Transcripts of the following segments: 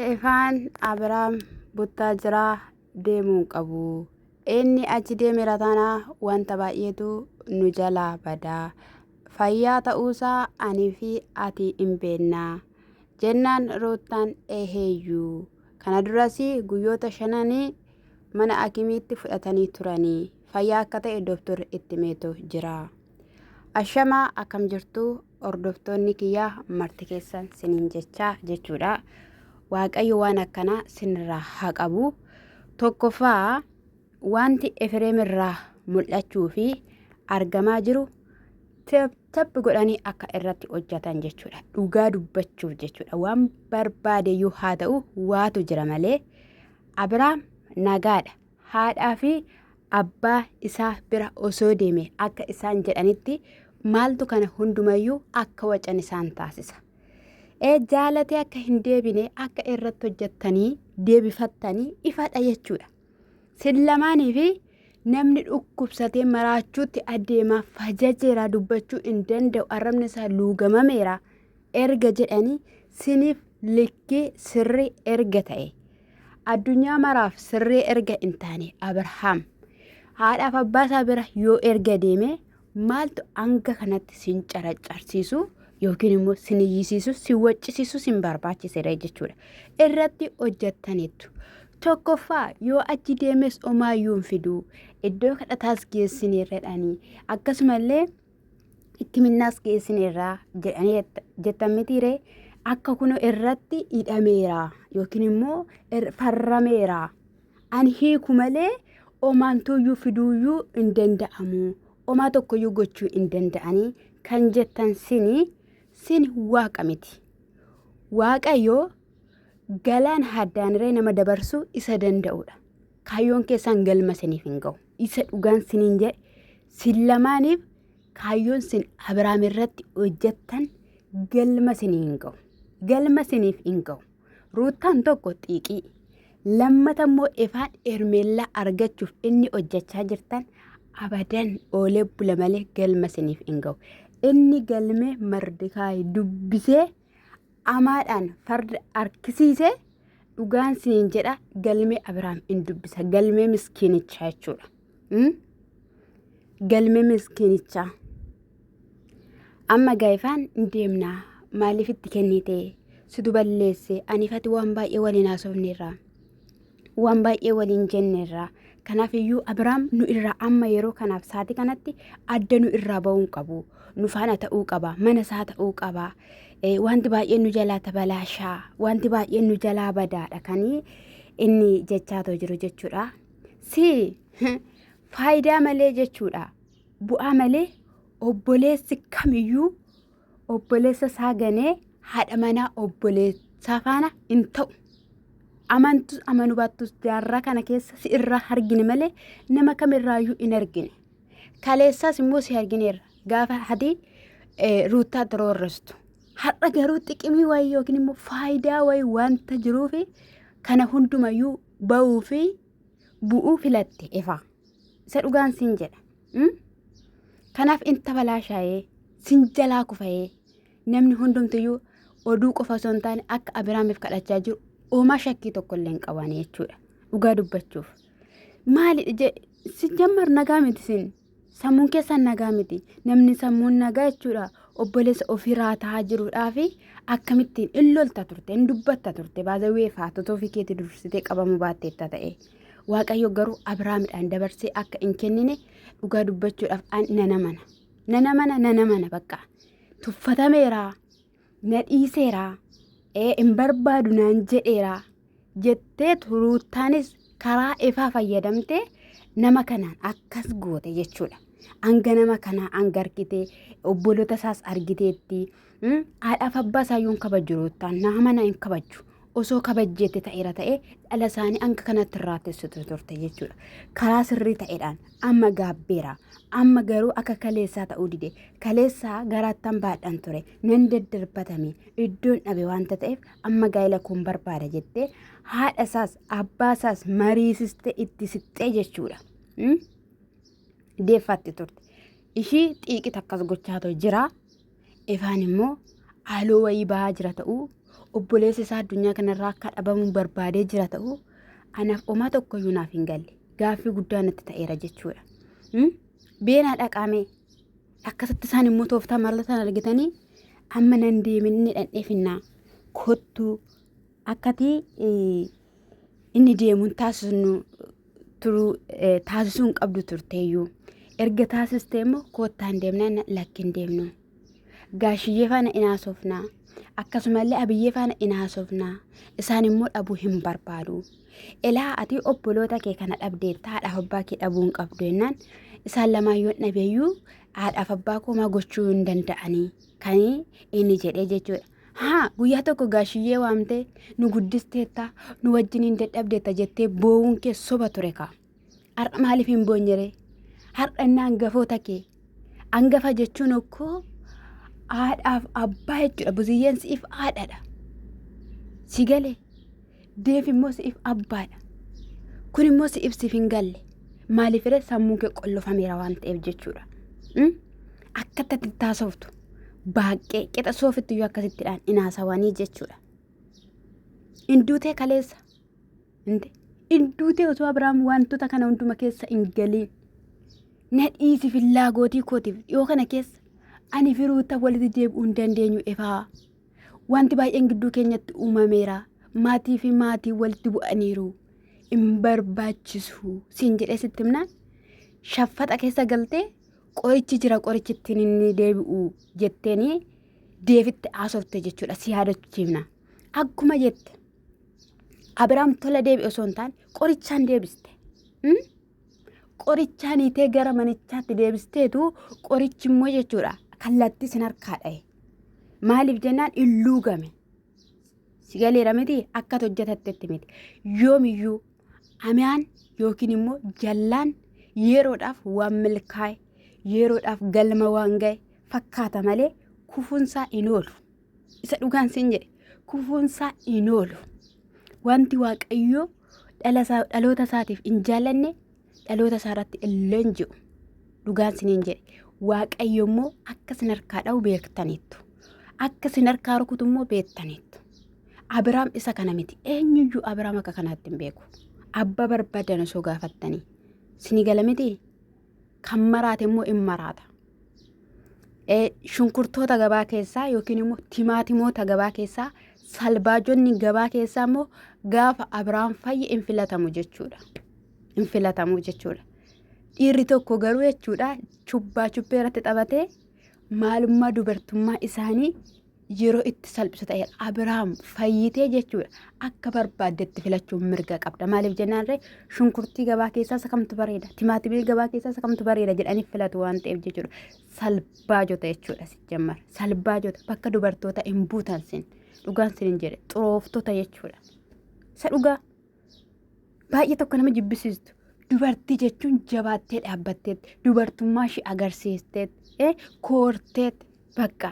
Efaan Abiraam Buttaajiraa deemuu hin qabu. Inni achi deemera taanaa wanta baay'eetu nu jalaa bada. Fayyaa ta'uusaa anii fi ati hin beekna. Jennaan Ruuttaan eeheeyyuu. Kana duras guyyoota shananii mana akimiitti fudhatanii turanii. Fayyaa akka ta'e doktorri itti meetu jira. Ashamaa akkam jirtu hordoftoonni kiyyaa marti keessan sinin jechaa jechuudha. Waaqayyo waan akkanaa sinirraa haa qabu. Tokkoffaa wanti Efireem irraa mul'achuu fi argamaa jiru tappi godhanii akka irratti hojjetan jechuudha. Dhugaa dubbachuuf jechuudha. Waan barbaade iyyuu haa ta'u waatu jira malee Abiraam nagaadha. haadhaa fi abbaa isaa bira osoo deeme akka isaan jedhanitti maaltu kana hundumayyuu akka wacan isaan taasisa. Ee jaalatee akka hin deebine akka irratti hojjettanii deebifattanii ifadha jechuudha. Sin lamaanii fi namni dhukkubsatee maraachuutti adeemaa fajajeeraa dubbachuu hin danda'u arrabni isaa luugamameera erga jedhanii siniif likkii sirrii erga ta'e. Addunyaa maraaf sirree erga hin taane Abrahaam haadhaaf abbaa isaa bira yoo erga deeme maaltu hanga kanatti sin caraccarsiisu yookiin immoo sin iyyisiisu sin waccisiisu sin barbaachisera jechuudha. Irratti hojjettaniittu. Tokkoffaa yoo achi deemes omaayyuu hin fiduu iddoo kadhataas geessineerradhaanii akkasumallee hikkiminnaas geessineerraa jedhanii jettan mitiiree akka kuno irratti hidhameera yookiin immoo farrameera ani hiiku malee omaantuuyyuu fiduuyyuu hin danda'amu omaa tokkoyyuu gochuu hin danda'anii kan jettan sini sin waaqa miti waaqayyo galaan haddaaniree nama dabarsuu isa danda'udha kaayyoon keessaan galma siniif hin ga'u. Isa dhugaan siniin jedhe sin lamaaniif kaayyoon sin Abiraam irratti hojjettan galma sinii hin ga'u. Galma siniif hin ga'u. Ruuttaan tokko xiiqii. Lammata immoo ifaan Hermeellaa argachuuf inni hojjechaa jirtan abadan oolee bula malee galma siniif hin ga'u. Inni galmee Mardikaay dubbisee amaadhaan farda harkisiise dhugaan siin jedha galmee abiraam in dubbisa galmee miskiinichaa jechuudha Mm? galmee miskiinichaa amma gaa'ifaan in deemnaa maaliif itti kennite situ balleesse aniifati waan baay'ee waliin haasofneerraa waan baay'ee waliin jenneerra. Kanaaf iyyuu Abiraam nu irraa amma yeroo kanaaf sa'aatii kanatti adda nu irraa ba'uu hin qabu. Nu faana ta'uu qaba. Mana isaa ta'uu qaba. Eh, Wanti baay'een nu jalaa tabalaashaa. Wanti baay'een nu jalaa badaadha kanii inni jechaa too jiru jechuudha. Si faayidaa malee jechuudha. Bu'aa malee obboleessi kamiyyuu obboleessa isaa ganee haadha manaa obboleessaa faana hin ta'u. Amantus amanu baattus jaarraa kana keessa si irraa argine malee nama kamirraayyuu hin argine. Kaleessaas immoo si argineerra gaafa hadii ruuttaa tiroorrestu. Har'a garuu xiqimii wayii yookiin immoo faayidaa wayii wanta jiruufi kana hundumayyuu ba'uu fi bu'uu filatte ifa. Isa dhugaan siin jedha. Mm? Kanaaf in tabalaashaa'ee sin jalaa kufa'ee namni hundumtiyyuu oduu qofa osoo hin taane akka Abiraamiif kadhachaa jiru oomaa shakkii tokko illee hin qabaane jechuudha. Dhugaa dubbachuuf. Maali je- si jammar nagaa miti sin. Sammuun keessan nagaa miti. Namni sammuun nagaa jechuudha. Obboleessa ofiiraa ta'aa jiruudhaa fi akkamittiin in lolta turte, in dubbatta turte. Baazawwee faatota ofii keetii dursitee qabamuu baatteetta ta'e. Waaqayyo garuu Abiraamidhaan dabarsee akka hin kennine dhugaa dubbachuudhaaf an nana mana. Nana mana nana mana bakka. Tuffatameera. Na dhiiseera. Ee hin barbaadu naan jedheera. Jettee turuuttaanis karaa ifaa fayyadamtee nama kanaan akkas goote jechuudha. Hanga nama kanaa hanga argitee obboloota isaas argiteetti Mm, haadhaaf abbaa isaa yoon kabajju ruuttaan naama na hin kabajju osoo kabajjeetti ta'eera ta'e dhala isaanii hanga kanatti irraa teessitu turte jechuudha karaa sirrii ta'eedhaan amma gaabbeera amma garuu akka kaleessaa ta'uu dide kaleessaa garaattan baadhan ture nan daddarbatame iddoon dhabe waanta ta'eef amma gaa'ela kun barbaada jettee haadha isaas abbaa isaas mariisistee itti sixxee jechuudha. Mm? deeffaatti turte ishii xiiqit akkas gochaa ta'e jira Efaan immoo haaloo wayii bahaa jira ta'uu obboleessi isaa addunyaa kanarraa akka dhabamu barbaadee jira ta'uu anaaf omaa tokkoyyuu naaf hin galle gaaffii guddaa natti ta'eera jechuudha. Hmm? Beenaa dhaqaamee akkasitti isaan immoo tooftaa maallatan argitanii amma nan deemin ni dhandheefinnaa kottuu akkati inni deemu hin taasisnu turuu eh, taasisuu hin qabdu turteeyyuu erga taasistee immoo koottaa hin deemnaa na- lakki hin deemnu gaashiyyee faana in haasofnaa akkasumallee abiyyee faana in haasofnaa isaan immoo dhabuu hin barbaadu ilaa ati obboloota kee kana dhabdeetta haadhaaf abbaa kee dhabuu hin qabdu jennaan isaan lamaan yoon dhabeeyyuu haadhaaf abbaa koomaa gochuu hin danda'anii kan inni jedhee jechuudha Haa guyyaa tokko gaashiyyee waamtee nu guddisteetta nu wajjiniin dadhabdeetta jettee boo'uun kee soba ture kaa. Har'a maaliif hin boonyeree? Har'a inni hangafoota kee. Hangafa jechuun okkoo haadhaaf abbaa jechuudha. Buziyyeen siif haadhadha. Si galee? Deef immoo si'if abbaadha. Kun immoo si'if siif hin galle. Maaliifire sammuun kee qollofameera waan ta'eef jechuudha. Mm? Akka itti taasoftu baaqqee qixa soofitti iyyuu akkasittidhaan inaasawanii jechuudha. Induutee kaleessa. Inde. Induutee osoo Abiraam wantoota kana hunduma keessa hin galiin. Na dhiisi fillaagootii kootiif dhiyoo kana keessa. Ani firuuta walitti deebi'uu hin dandeenyu ifaa. Wanti baay'een gidduu keenyatti uumameera. Maatii fi maatii walitti bu'aniiru. Hin barbaachisu siin jedhee sitti himnaan shaffaxa keessa galtee qorichi jira qorichi ittiin inni deebi'u jetteeni deebitti haasofte jechuudha si yaadachiifna. Akkuma jette Abiraam tola deebi'e osoo hin taane qorichaan deebiste. Hmm? Qorichaan hiitee gara manichaatti deebisteetu qorichi immoo jechuudha kallattii sin harkaa dhahe. Maaliif jennaan illuu game. Si galeera miti akka hojjetattetti miti. Yoomiyyuu amiyaan yookiin immoo jallaan yeroodhaaf waan milkaa'e yeroodhaaf galma waan ga'e fakkaata malee kufuunsaa hin oolu. Isa dhugaan sin jedhe kufuunsaa hin oolu. Wanti waaqayyoo dhaloota isaatiif hin jaallanne dhaloota isaa irratti illee hin jiru. Dhugaan sin hin jedhe waaqayyo immoo akka sin harkaa dha'u beektaniittu. Akka sin harkaa rukutu immoo beektaniittu. Abiraam isa kana miti. Eenyuyyuu Abiraam akka kanaatti hin beeku. Abba barbaadan osoo gaafattanii. Sini gala miti? kan maraate immoo in maraata. Eh, Shunkurtoota gabaa keessaa yookiin immoo timaatimoota gabaa keessaa salbaajonni gabaa keessaa immoo gaafa Abiraam fayye in filatamu jechuudha. In filatamu jechuudha. Dhiirri tokko garuu jechuudha chubbaa chubbee irratti taphatee maalummaa dubartummaa isaanii yeroo itti salphisu ta'e Abiraam fayyitee jechuudha akka barbaaddetti filachuun mirga qabda maaliif jennaan ree shunkurtii gabaa keessaa isa kamtu bareeda timaatimii gabaa keessaa isa kamtu bareeda jedhanii filatu waan ta'eef jechuudha salbaa jota jechuudha si jammar salbaa jota bakka dubartoota hin buutan sin dhugaan sin hin jedhe xurooftota jechuudha isa dhugaa. baay'ee tokko nama jibbisiistu dubartii jechuun jabaattee dhaabbatteetti dubartummaa ishee agarsiisteetti eh, koorteetti bakka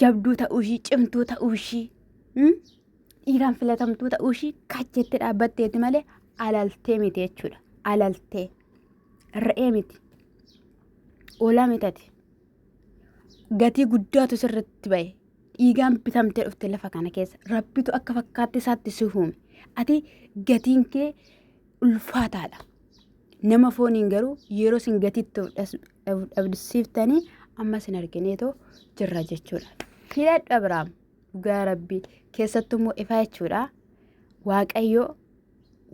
jabduu ta'uu ishii cimtuu ta'uu ishii hmm? dhiiraan filatamtuu ta'uu ishii kacheetti dhaabbatteetti malee alaltee miti jechuudha alaltee re'ee miti oolaa mitati gatii guddaatu sirritti ba'e dhiigaan bitamtee dhufte lafa kana keessa rabbitu akka fakkaatti isaatti si uume ati gatiin kee ulfaataadha nama fooniin garuu yeroo sin gatiitti dhabdisiiftanii amma sin argineetoo jirra jechuudha filadhu abiraam dhugaa rabbii keessattuu immoo ifaa jechuudha waaqayyoo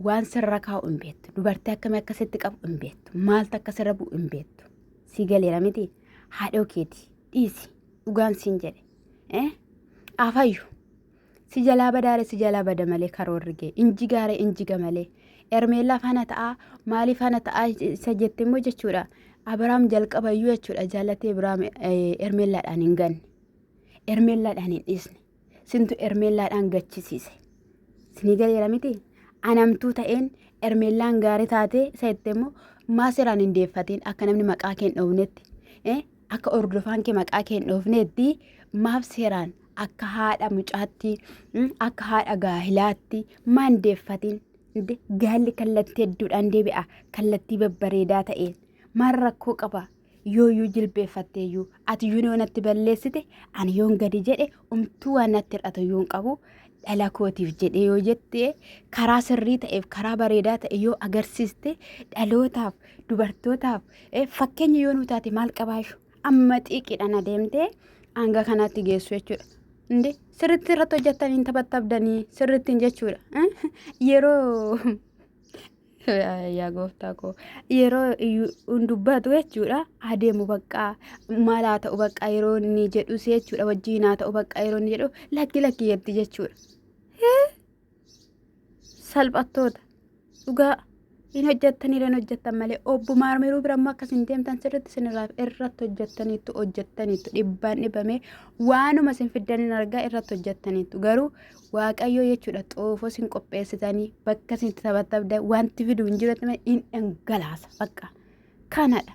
waan sirra kaa'u hin beektu dubartii akkamii akka sitti qabu hin beektu maaltu akka sirra bu'u hin beektu si galeera miti haadhoo keeti dhiisi dhugaan siin jedhe eh afayyu si jalaa badaare si jalaa bada malee karoorri gee inji gaare injiga malee ermeellaa faana ta'aa maalii faana ta'aa isa jette immoo jechuudha abiraam jalqabayyuu jechuudha jaallatee biraam ermeellaadhaan hin ganne ermeellaadhaan hin dhiisne Sintu Ermeellaadhaan gachisiise. Sinii galeera miti? Anamtuu ta'een Ermeellaan gaarii taatee isa itti immoo maa seeraan hin deeffatiin akka namni maqaa kee hin dhoofnetti eh, akka hordofaan kee maqaa kee hin dhoofnetti maaf seeraan akka haadha mucaatti mm, akka haadha gaahilaatti maa hin deeffatiin Inde, gaalli kallattii hedduudhaan deebi'a kallattii babbareedaa ta'een maal rakkoo qaba yooyyuu jilbeeffatteeyyuu ati yuun yoo natti balleessite ani yoon gadi jedhe umtuu waan natti hir'atu yuun qabu dhala kootiif jedhee yoo jette karaa sirrii ta'eef karaa bareedaa ta'e yoo agarsiiste dhalootaaf dubartootaaf eh, fakkeenya yoo nu taate maal qabaashu amma xiiqiidhaan adeemtee hanga kanaatti geessu jechuudha. Inde sirriitti irratti hojjettanii hin taphattabdanii sirriittiin jechuudha. Eh, Yeroo yaa gooftaa koo yeroo hin dubbatu jechuudha adeemu baqqaa maal haa ta'u baqqaa yeroo inni jedhus jechuudha wajjin haa ta'u baqqaa yeroo inni jedhu lakki lakki jetti jechuudha. Hee? Salphattoota dhugaa hin hojjettanii hin hojjettan malee obbo maarmiruu bira immoo akkas hin deemtan sirriitti sinirraa irratti hojjettaniittu hojjettaniittu dhibbaan dhibamee waanuma sin fiddan hin argaa irratti hojjettaniittu garuu Waaqayyoo jechuudha xoofoo sin qopheessitanii bakka sin taphatabda wanti fidu hin jiru hin dhangalaasa bakka kanadha.